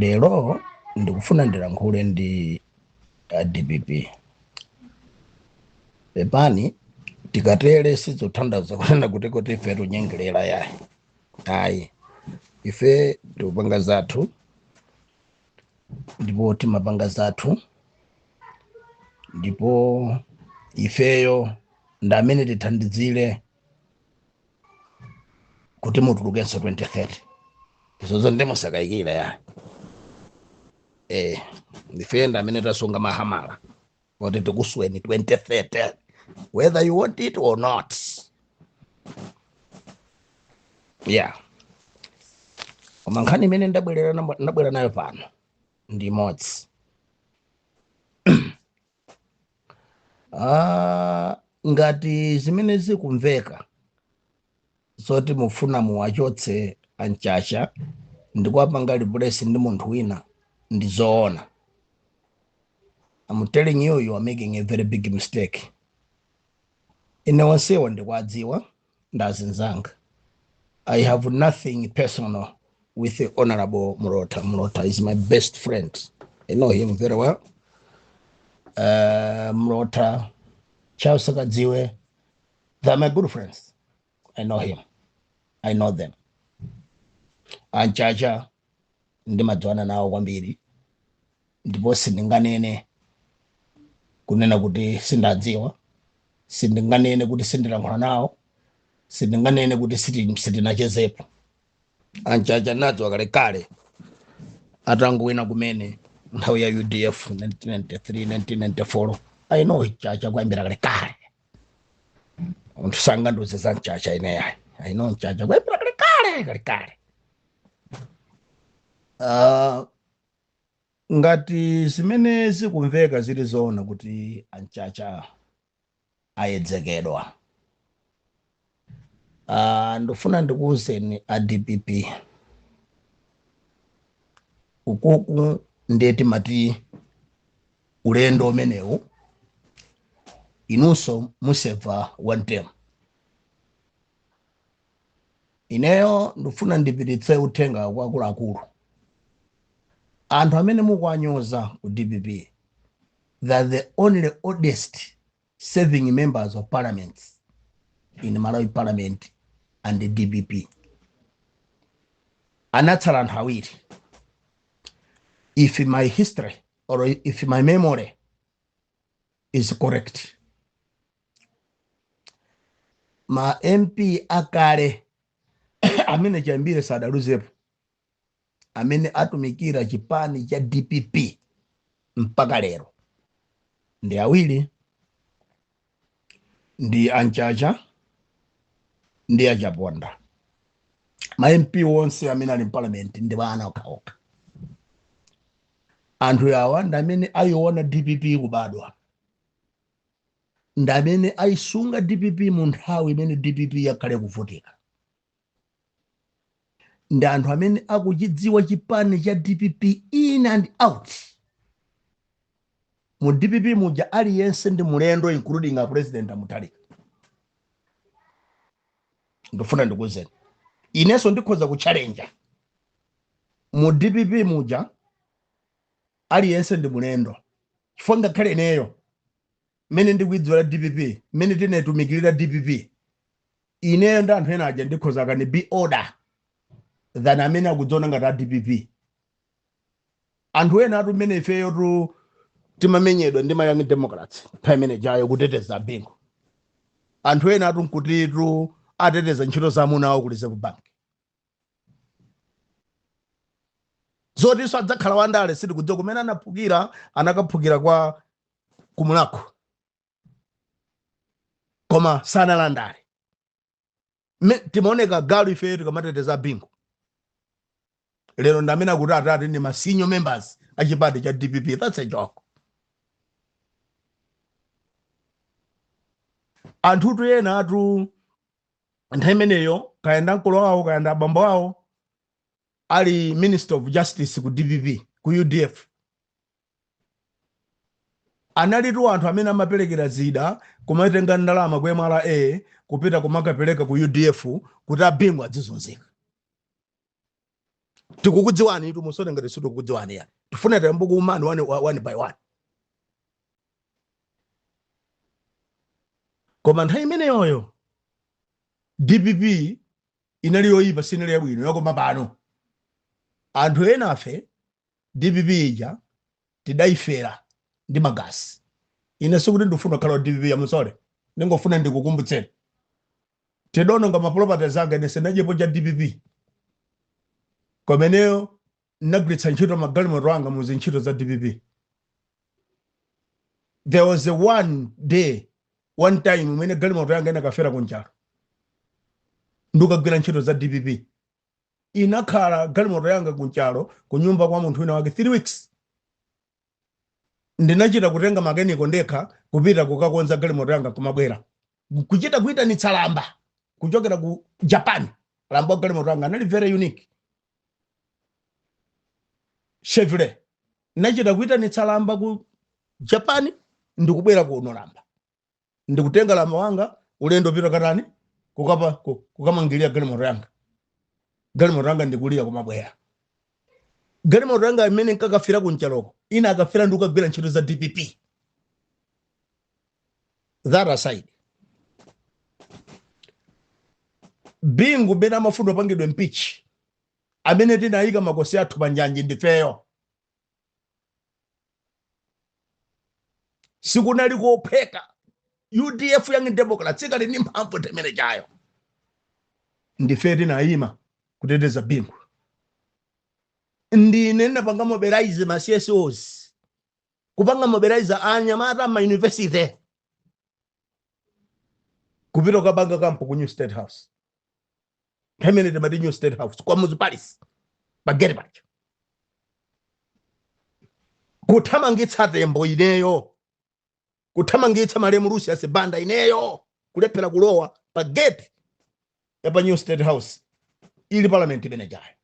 Lero ndikufuna ndilankhule ndi a dpp. Pepani tikatere sizothandaza kunena kuti kuti ife tikunyengerera yayi. Ayi ife tikupanga zathu ndipo timapanga zathu ndipo ifeyo ndi amene tithandizire kuti mutulukenso 2030 izozo ndi musakayikire yayi ndife ndi amene tasunga mahamala kuti tikusweni 2030 whether you want it or not yeah koma nkhani imene ndabwerera namo- ndabwera nayo pano ndi imodzi Ah, ngati zimene zikumveka zoti mufuna muwachotse a Mchacha ndikuwapanga replace ndi munthu wina ndi zoona I'm telling you you are making a very big mistake ine onsewa ndikuwadziwa ndi azinzanga i have nothing personal with the honorable mlota mlota is my best friend i know him very well uh, mlota charles sakadziwe they are my good friends i know him i know them anchacha ndimadziwana nawo kwambiri ndipo sindinganene kunena kuti sindiwadziwa sindinganene kuti sindilankhula nawo sindinganene kuti siti- sitinachezepo a Mchacha nawadziwa kalekale atangowina kumene nthawi ya udf 1993 1994 I know Mchacha kuyambira kalekale munthu sangandiuze za mchacha ine yayi I know Mchacha kuyambira kalekale kalekale Ah, Ngati zimene zikumveka zili zoona kuti a Mchacha ayedzekedwa, aah ndikufuna ndikuuzeni a dpp ukuku nde timati ulendo umenewu inunso museva one term. ineyo ndikufuna ndipititse uthenga kwa akuluakulu anthu amene mukuwanyoza ku dpp they are the only oldest serving members of parliament in malawi parliament and the dpp anatsala anthu awiri if my history or if my memory is correct ma mp akale amene chiyambire sadaluzepo amene atumikira chipani cha dpp mpaka lero ndi awiri ndi a Mchacha ndi a Chaponda ma mp onse amene ali mparliament ndi ana okhaokha anthu awa ndi amene ayiona dpp kubadwa ndi amene ayisunga dpp mu nthawi imene dpp yakhala ikuvutika ndi anthu amene akuchidziwa chipani cha dpp in and out mu dpp muja aliyense ndi mulendo including a president a mutharika ndifuna ndikuuzeni inenso ndikhoza kutchalenja mu dpp muja aliyense ndi mulendo chifukwa ngakhale ineyo mmene ndikuidziwira dpp mmene tinaitumikirira dpp ineyo ndi anthu ena aja ndikhoza can be older than amene akudziona ngati a dpp anthu enawatu mmene ifeyotu timamenyedwa ndi ma young democrats nthawi imene ijayo kuteteza bingu anthu enawatu nkutitu ateteza ntchito za amuna awo ku reserve bank zotinso adzakhala wandale sitikudziwa kumene anaphukira anakaphukira kwa ku mulhako koma sanali andale timaoneka galu ifeyo tikamateteza bingu lero ndamene akuti atati ndi ma senior members a chipani cha dpp that's a joke anthutu enawatu nthawi imeneyo kaya ndamkulu wawo kaya ndabambo wawo ali minister of justice ku dpp ku udf analitu anthu amene amaperekera zida kumatenga ndalama ku mra kupita kumakapereka ku udf kuti abingu adzizunzika tikukudziwanitu musaone ngati sitikukudziwani ya tifuna tiyambe kuumani one by one koma nthawi imeneyoyo dpp inali yoyipa sinali yabwino yakoma pano anthu enafe dpp ija tidaifera ndi magazi ine sikuti ndifuna kukhala wa dpp I'm sorry ndingofuna ndikukumbutseni tidaononga maproperties anga ine sinadyepo cha dpp koma ineyo nagwiritsa ntchito magalimoto anga mu zintchito za dpp there was a one day one time imene galimoto yanga inakafera ku nchalo ndikugwira ntchito za dpp inakhala galimoto yanga ku nchalo kunyumba kwa munthu wina wake 3 weeks ndinachita kutenga makeniko ndekha kupita kukakonza galimoto yanga kumabwera kuchita kuyitanitsa lamba kuchokera ku japan lamba wa galimoto yanga anali very unique chevrolet nachita kuyitanitsa lamba ku japan ndikubwera kuno lamba ndikutenga lamba wanga ulendo pita katani kukapa ku- kukamangirira galimoto yanga galimoto yanga ndikulira kumabwera galimoto yanga imene nkakafira kunchaloko ina akafira ndikukagwira ntchito za dpp that aside bingu bena amafundo apangidwe impeach amene tinayika makosi athu panjanji ndifeyo sikunali kophweka udf young democrats ikali ndi mphamvu time imene chayo ndife tinayima kuteteza bingu ndine ndinapanga mobilize ma csos kupanga mobilize anyamata ma university kupita kukapanga kampu ku new state house pamene timati new state house Kamuzu palace pa gate paja kuthamangitsa tembo ineyo kuthamangitsa malemu lucius banda ineyo kulephera kulowa pa gate ya pa new state house ili parliament imeneyayo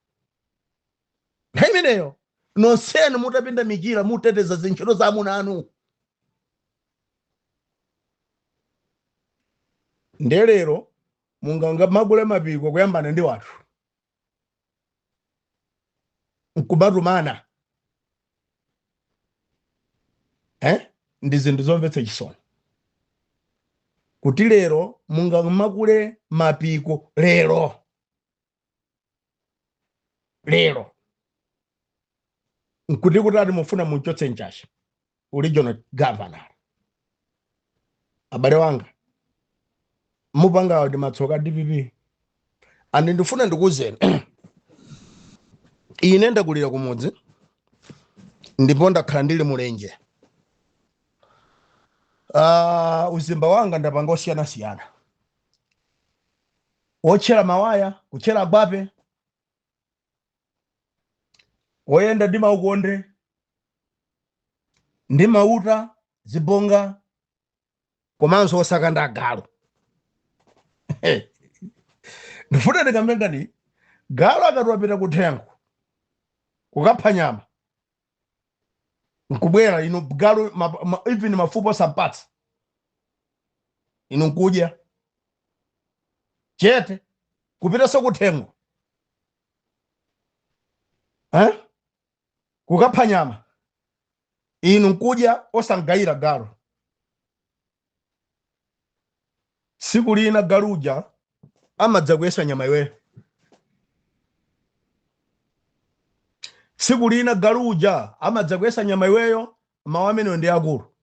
nthawi imeneyo nonsenu mutapinda michira muteteza zintchito za amuna anu ndelero mungamakule mapiko kuyambana ndi wathu nkumatumana eh? ndi zinthu zomvetsa chisoni kuti lero mungamakule mapiko lero lero nkuti kuti ati mufuna munchotse Mchacha regional governor abale wanga mupangawo ndi matsoka a dpp and ndifuna ndikuwuzeni ine ndakulira kumudzi ndipo ndakhala ndili mulenje uh, uzimba wanga ndapanga osiyanasiyana otchera mawaya kutchera gwape oyenda ndi maukonde ndi mauta zibonga komanso osaka nda agalu ndifuna ndikambe nkhani galu akati wapita kuthengo kukapha nyama nkubwera inu galu ma, ma, even mafupa osampatsa inu nkudya chete kupitanso kuthengo eh? kukapha nyama inu nkudya osamgayira galu tsiku lina galu uja amadzakuyesa nyama iweyo tsiku lina galu uja amadzakuyesa nyama iweyo mawu ameneyo ndi akulu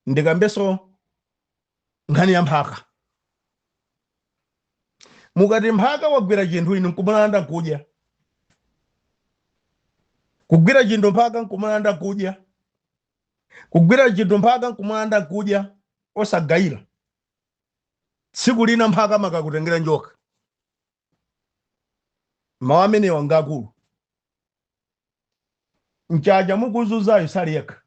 ndikambenso nkhani ya mphaka mukati mphaka wagwira chinthu inu nkumulanda nkudya kugwira chinthu mphaka nkumulanda nkudya kugwira chinthu mphaka nkumulanda nkudya osagayira tsiku lina mphaka amakakutengera njoka mawu amenewa ngakulu mchacha mukuzunzayo sali yekha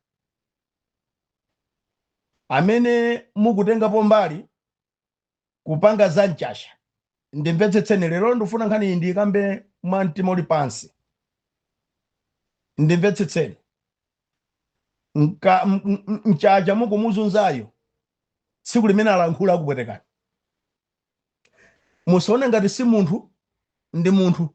amene mukutengapo mbali kupanga za mchacha ndimvetsetseni lero ndifuna nkhani iyi ndiyikambe mwa mtima uli pansi ndimvetsetseni Mka- m- m- m- mchacha mukumuzunzayo tsiku limene alankhula akupwetekani musaone ngati si munthu ndi munthu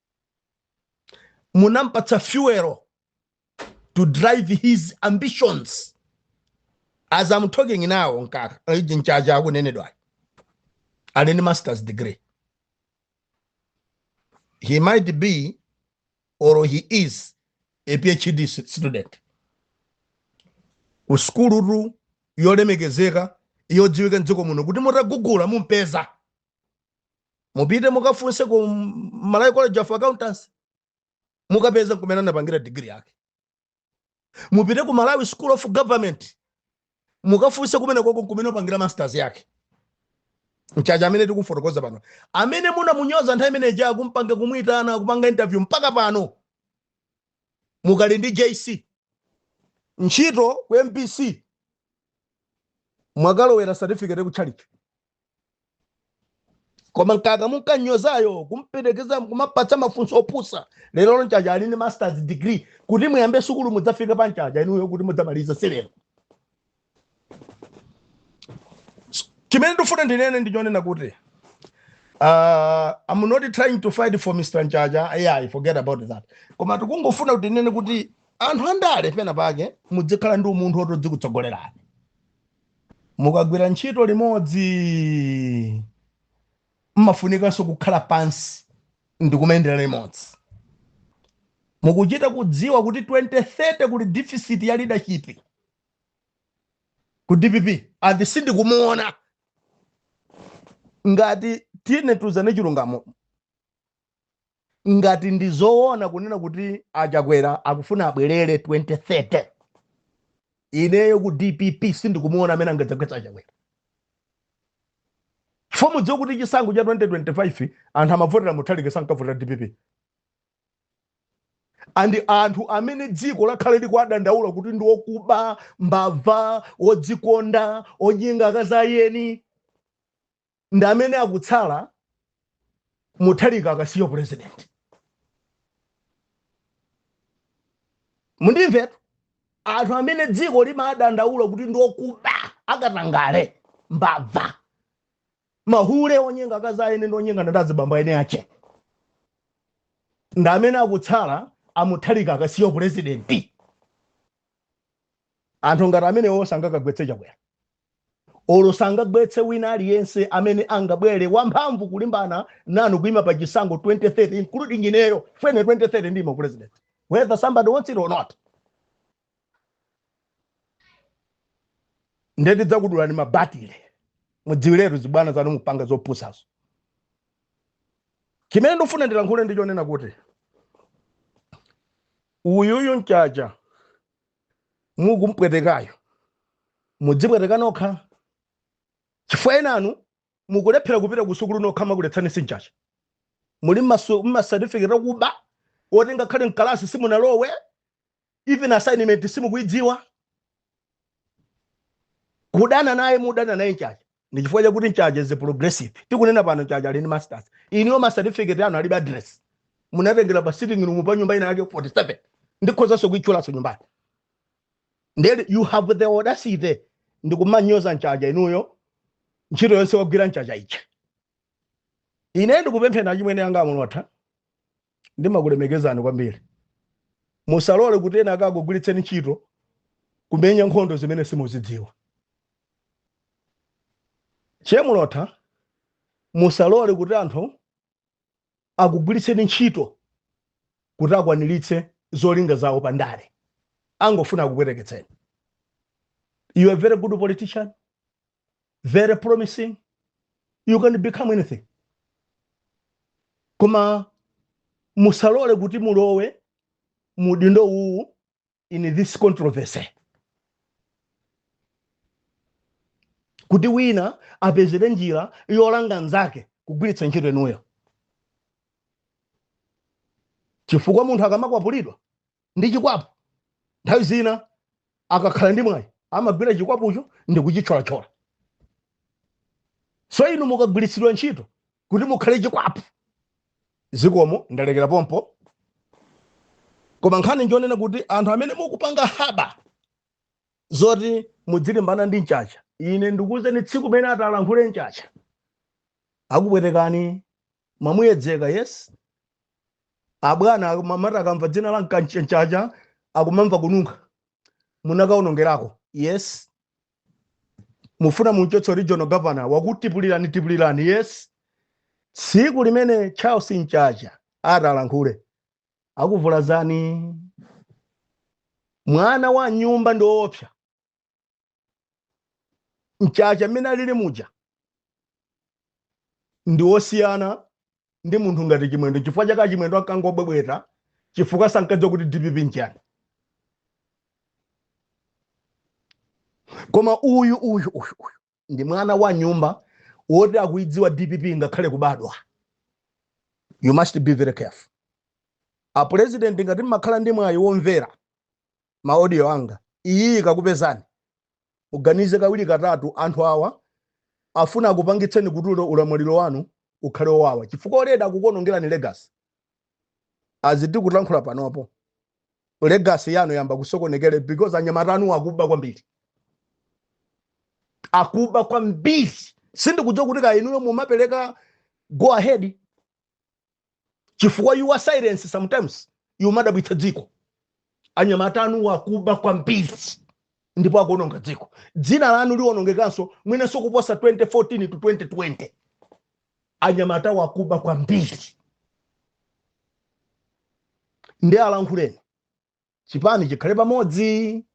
munampatsa fuel to drive his ambitions as i'm talking now mkaka iji mchacha akunenedwayo ali ndi masters degree he might be or he is a phd stu- student ku sukulutu yolemekezeka yodziwika mdziko muno kuti mutagugula mumpeza mupite mukafunse ku malawi college of accountancy mukapeza kumene anapangira digiri yake mupite ku malawi school of government mukafunse kumene koko kumene anapangira masters yake mchacha amene tikufotokoza pano amene munamunyoza nthawi imene ija kumpanga kumuyitana kupanga interview mpaka pano mukali ndi jc ntchito ku mbc mwakalowera certificate ku chalichi koma mkaka munkanyozayo kumperekeza kumapatsa mafunso opusa lero mchacha ali ndi masters degree kuti muyambe sukulu mudzafika pa mchacha inuyo kuti mudzamaliza si lero chimene ndifuna ndinene ndichonena kuti uh, I'm not trying to fight for Mr. Mchacha ayi forget about that koma tikungofuna kuti ndinene kuti anthu andale pena pake mudzikhala ndi umunthu woti udzikutsogolerani Mukagwira ntchito limodzi, m'mafunikanso kukhala pansi ndi kumayendera limodzi. Mukuchita kudziwa kuti 2030 kuli deficit ya leadership ku dpp and sindikumuona. Ngati tiyeni tiuzane chilungamo. ngati ndi zoona kunena kuti achakwera akufuna abwerere 2030 ineyo ku dpp sindikumuona amene angadzagwetsa achakwera chifukwa mudziwe kuti chisankho cha 2025 anthu amavotera muthalika sankavotera dpp and anthu amene dziko lakhala likuwadandaula kuti ndi okuba mbava odzikonda onyenga akazi a eni ndi amene akutsala muthalika akasiya upresident mundimvetu anthu amene dziko limadandaula kuti ndiokuba akatangale mbava mahule onyenga akazi a eni ndi onyenga ndi azibambo aene ache ndi amene akutsala amuthalika akasiya upurezidenti anthu ngati amenewo sangakagwetse chakwera Olo sangagwetse wina aliyense amene angabwere wamphamvu kulimbana nanu kuima pa chisankho 2030 including ineyo mwene 2030 ndimo president whether somebody wants it or not nde tidzakudulani mabatile mudziwiretu zibwana zanu mupanga zopusazo chimene ndifuna ndilankhule ndi chonena kuti uyuyu mchacha mukumpwetekayo mudzipweteka nokha chifukwa enanu mukulephera kupita kusukulu nokha amakuletsani si mchacha muli mmasatifiketi akuba oti ngakhale mkalasi simunalowe even assignment simukuidziwa kudana naye mudana naye mchacha ndi chifukwa chakuti mchacha is a progressive tikunena pano mchacha ali ndi masters inuyo ma certificate anu alibe address munatengera pa sitting room pa nyumba ina yake 47 ndikhozanso kuitchulanso nyumbayo nde you have the audacity ndikumanyoza mchacha inuyo ntchito yonse wagwira mchacha ichi ine ndikupemphera achimwene anga amulotha Ndimakulemekezani kwambiri. Musalole kuti ena akakugwiritseni ntchito kumenya nkhondo zimene simuzidziwa. Che Mulotha, musalole kuti anthu akugwiritseni ntchito kuti akwaniritse zolinga zawo pa ndale. Angofuna akupweteketseni. You are a very good politician. very promising you can become anything koma musalole kuti mulowe mudindo uwu in this controversy kuti wina apezere njira yolanga nzake kugwiritsa ntchito inuyo chifukwa munthu akamakwapulidwa ndi chikwapu nthawi zina akakhala ndi mwayi amagwira chikwapucho ndi kuchitcholatchola so inu mukugwiritsidwa ntchito kuti mukhale chikwapu zikomo ndalekera pompo koma nkhani njonena kuti anthu amene mukupanga plan zoti mudzilimbana ndi mchacha ine ndikuwuzeni tsiku limene atalankhule mchacha akupwetekani mwamuyedzeka yes abwana amati akamva dzina la mchacha akumamva kununkha munakaonongerako yes mufuna mumchotse u regional governor wakutipulirani tipulirani yes tsiku limene charles mchacha atalankhule akuvulazani mwana wa m'nyumba ndiwoopsa mchacha mmene alili muja ndi wosiyana ndi munthu ngati chimwendo chifukwa chake achimwendo ankangobwebweta chifukwa sankadziwa kuti dpp nchani koma uyu uyu uyu uyu ndi mwana wa m'nyumba woti akuidziwa dpp ngakhale kubadwa you must be very careful a president ngati mmakhala ndi mwayi womvera ma audio anga iyi ikakupezani muganize kawiri katatu anthu awa afuna akupangitseni kuti ulo- ulamuliro wanu ukhale wowawa chifukwa already akukuonongerani legacy as tikulankhula panopo legacy yanu yamba kusokonekera because anyamata anu akuba kwambiri akuba kwambiri sindikudziwa kuti kaya inuyo mumapereka go ahead chifukwa your silence sometimes imadabwitsa dziko anyamata anuwa akuba kwambiri ndipo akuononga dziko dzina lanu liwonongekanso mwinenso kuposa 2014 to 2020 anyamatawa akuba kwambiri ndiye alankhuleni chipani chikhale pamodzi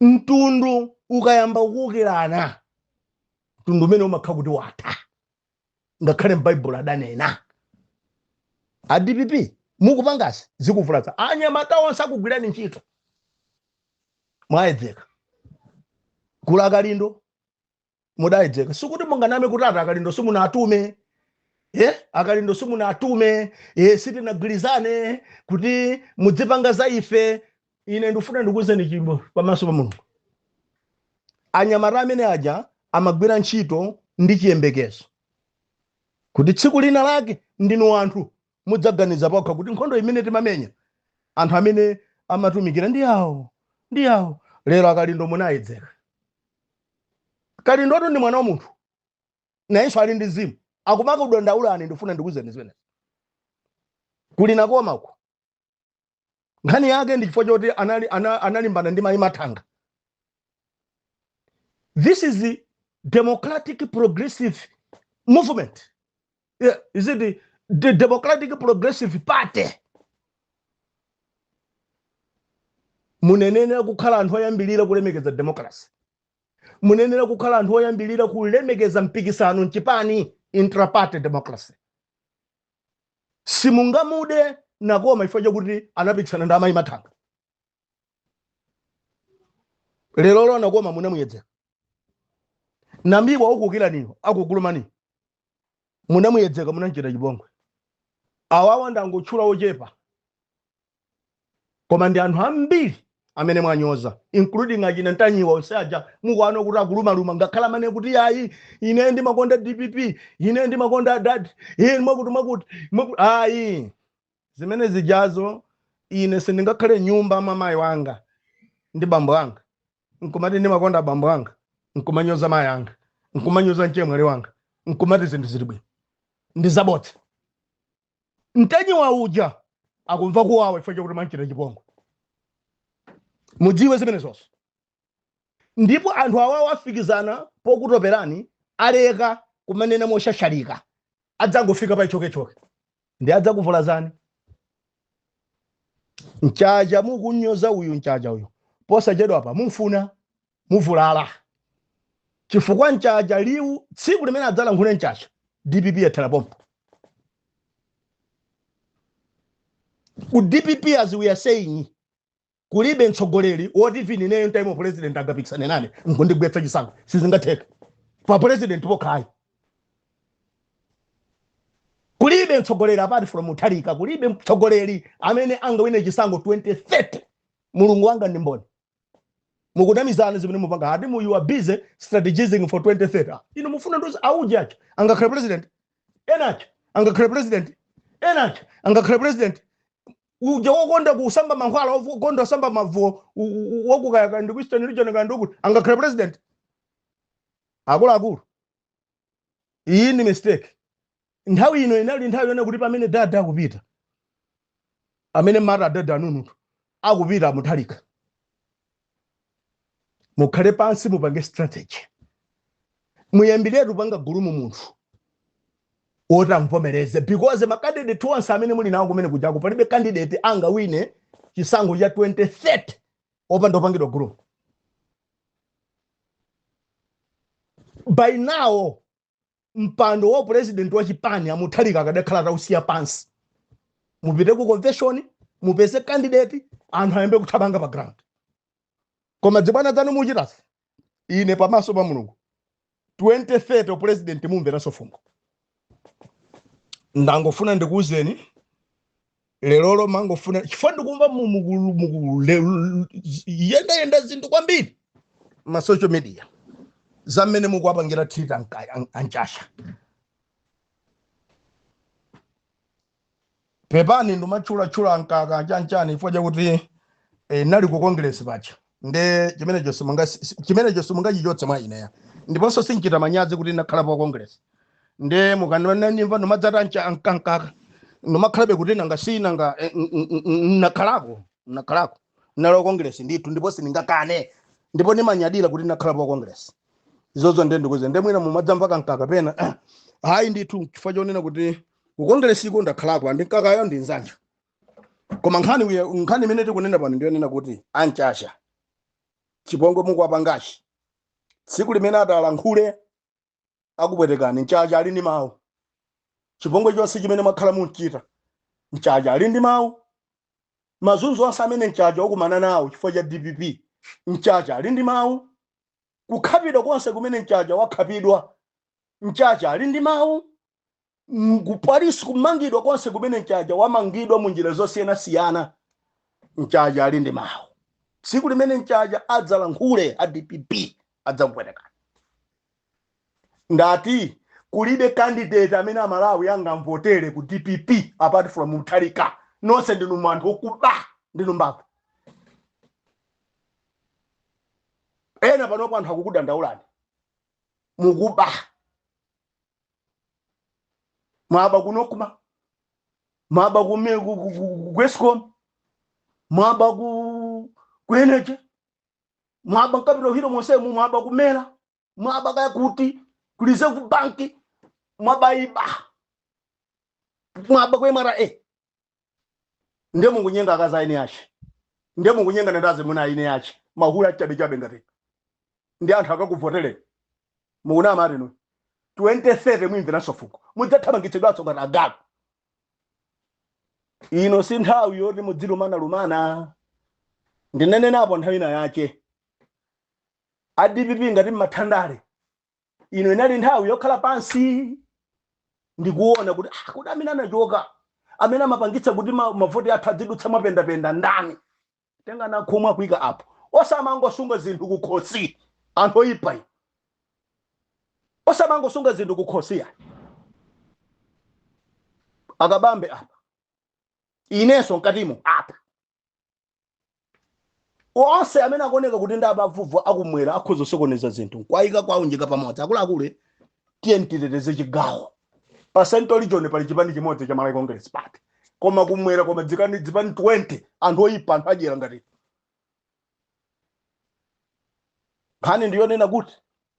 mtundu ukayamba kuukirana mtundu umenewo umakhala kuti watha ngakhale m'baibulo adanena a dpp mukupangazi zikuvulaza anyamata onse akugwirani ntchito mwayedzeka kuli akalindo mudayedzeka sikuti munganame kuti ati akalindo simunatume eh akalindo simunatume eh sitinagwirizane kuti mudzipanga za ife ine ndifuna ndikuuzeni tchimo pamaso pa mulungu anyamata amene aja amagwira ntchito ndi chiyembekezo kuti tsiku lina lake ndinu anthu mudzaganiza pokha kuti nkhondo imene timamenya anthu amene amatumikira ndi awo ndi awo lero akalindo munayedzeka kalindoto ndi mwana wa munthu nayenso ali ndi mzimu akumakakudandaulani ndifuna ndikuuzeni zimenezi kuli nakoma uko nkhani yake ndi chifukwa choti anali- ana- analimbana ndi mayi mathanga this is the democratic progressive movement yeah, is it the, the Democratic Progressive Party? munayenera kukhala anthu oyambirira kulemekeza democracy munayenera kukhala anthu oyambirira kulemekeza mpikisano mchipani intraparty democracy simungamude nakoma chifukwa chakuti anapikisana ndi amayi mathanga lerolo nakoma munamuyedzeka nambiwa akukukirani uyo akukulumani munamuyedzeka munamchita chipongwe awawa ndangotchula ochepa koma ndi anthu ambiri amene mwanyoza including achina ntanyiwa onse aja mukuona kuti akulumaluma angakhale amanena kuti yayi ine ndimakonda dpp ine ndimakonda adad ine mwakuti mwakuti mwakuti- ayi zimene zijazo ine sindingakhale mnyumba mwa mayi anga ndi bambo anga nkumati ndimakonda bambo anga nkumanyoza mayi anga nkumanyoza mchemwali wanga nkumati zinthu zili bwino ndi zabodza ntanyiwa uja akumva kuwawa chifukwa chakuti mwamchita chipongwe mudziwe zimenezozo ndipo anthu awawo afikizana pokutoperani aleka kumanena mosasalika adzangofika pa chokechoke ndiye adzakuvulazani mchacha mukunyoza uyu mchacha uyu posachedwapa mumfuna muvulala chifukwa mchacha liwu tsiku limene adzalankhule mchacha dpp yathera pompo ku dpp as we are saying Kulibe mtsogoleri woti even ineyo ntaima u president angapikisane nane nkundigwetsa chisankho sizingatheke pa president pokhayi kulibe mtsogoleri apart from Mutharika kulibe mtsogoleri amene angawine chisankho 2030 mulungu wanga ndi mboni mukunamizana zimene mukupanga ati you are busy strategizing for 2030 iyo mufuna ndonzi auje achoo angakhale president enacho angakhale president enacho angakhale president uja wokonda kusamba mankhwala wofu- wokonda kusamba mavuwo u- u- u- wakukaya kandi ku eastern region kandi ukuti angakhale president akuluakulu iyi ndi mistake nthawi ino inali nthawi yoona kuti pamene adada akupita amene mmati adada anunutu akupita mutharika mukhale pansi mupange strategy muyambiretu kupanga groom munthu woti amvomereze because makandidate onse amene muli nawo kumene kujako palibe kandidate angawine chisankho cha 2030 opanda opangidwa groom by now mpando wa upresident wa chipani a mutharika akadakhala atausiya pansi mupite ku convention mupeze candidate anthu ayambe kuthamanga pa ground koma dzibwana dzanu muchitazi ine pamaso pa mulungu 2030 president mumveranso fungo ndangofuna ndikuuzeni lerolo ndangofuna chifukwa ndikumva mu- muku- muku- le- l- z- yendayenda zinthu kwambiri ma social media za mmene mukuwapangira treat anka- an- amchacha pepani ndimatchulatchula a nkaka chanichani chifukwa chakuti eh, nali ku congress paja nde chimenecho simunga si- si- chimenecho simungachichotse mwa ineya ndiponso sinchita manyazi kuti ndakhala pa congress nde mukamandimva ndimadzatcha a nkaka ndimakhalabe kuti nanga si nanga eh, n- n- n- n- nakhalako nakhalako nalo congress ndithu ndipo sindingakane ndipo ndimanyadira kuti nakhala pa congress izozo nde ndikuuzeni nde mwina mumadzamva kankaka pena hayi ndithu chifukwa chonena kuti ku congress iko ndakhalako a nkakayo ndi nzanga koma nkhani uya- nkhani imene tikunena pano ndiyonena kuti amchacha chipongwe mukuwapangachi tsiku limene atalankhule akupwetekani mchacha ali ndi mawu chipongwe chonse chimene mwakhala mukumchita mchacha ali ndi mawu mazunzo onse amene mchacha wakumana nawo chifukwa cha dpp mchacha ali ndi mawu kukhapidwa konse kumene mchacha wakhapidwa mchacha ali ndi mawu mm, ku polisi kumangidwa konse kumene mchacha wamangidwa mu njira zosiyanasiyana mchacha ali ndi mawu tsiku limene mchacha adzalankhule a dpp adzakupwetekani ndati kulibe candidate amene amalawi angamvotere ku dpp apart from mutharika nonse ndinu anthu okuba ndinu mbava ena panopo anthu akukudandaulani mukuba mwaba kunokuma mwaba kume- ku- ku- ku- ku escom mwaba ku ku energy mwaba nkabiro hilo monsemu mwaba kumera mwaba kaya kuti kulize ku banki mwaba iba mwaba ku mra ndiye mukunyenga akazi aeni ake ndiye mukunyenga ndi azimuna aeni ake mahula achabechabe ngati ndiye anthu akakuvotereni mukunama ati nu 2030 muimveranso fungo mudzathamangitsidwanso ngati agalu ino si nthawi yoti mudzilumanalumana ndinenenapo nthawi ina yake adpp ngati mmathandale ino inali nthawi yokhala pansi ndikuona kuti ah, kuti amene anachoka amene amapangitsa kuti ma- mavoti athu adzidutsa mwapendapenda ndani tenga Nankhumwa kuika apo osamangosunga zinthu kukhosi anthu oyipa inu. osamangosunga zinthu kukhosi ayi akabambe apa inenso mkatimo apa onse amene akuoneka kuti ndi abavuvu akumwera akhoza kusokoneza zinthu nkwayika kwaunjika pamodzi akuluakulu tiyeni titeteze chigawo pa central region pali chipani chimodzi cha malawi congress party koma kumwera koma zipani 20 anthu oyipa anthu adyera ngati nkhani ndiyonena kuti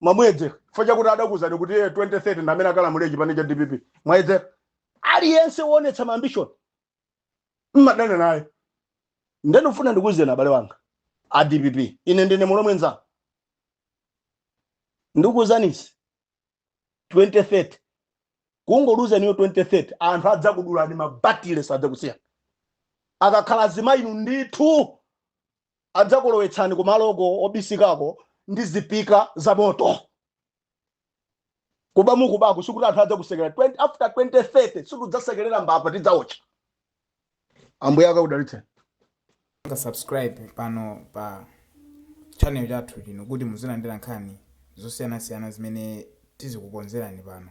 mwamuyedzera chifukwa chakuti adakuuzani kuti iye 2030 ndi amene akalamulire chipani cha dpp mwayedzera aliyense woonetsa maambishoni mmadana naye ndikufuna ndikuuzeni abale anga a dpp ine ndine mulomwe nzanu ndikuuzanisi 2030 kungoluza iyo 2030 anthu adzakudulani mabatile sadzakusiyani akakhala azimayinu ndithu Adzakulowetsani kumaloko obisikako ndi zipika za moto. Kuba mukubako sikuti anthu adzakusekelera 20, after 2030 situdzasekelera mbava tidzaotcha. Ambuye akakudalitseni. Pangani subscribe pano pa channel chathu chino kuti muzilandira nkhani zosiyanasiyana zimene tizikukonzerani pano.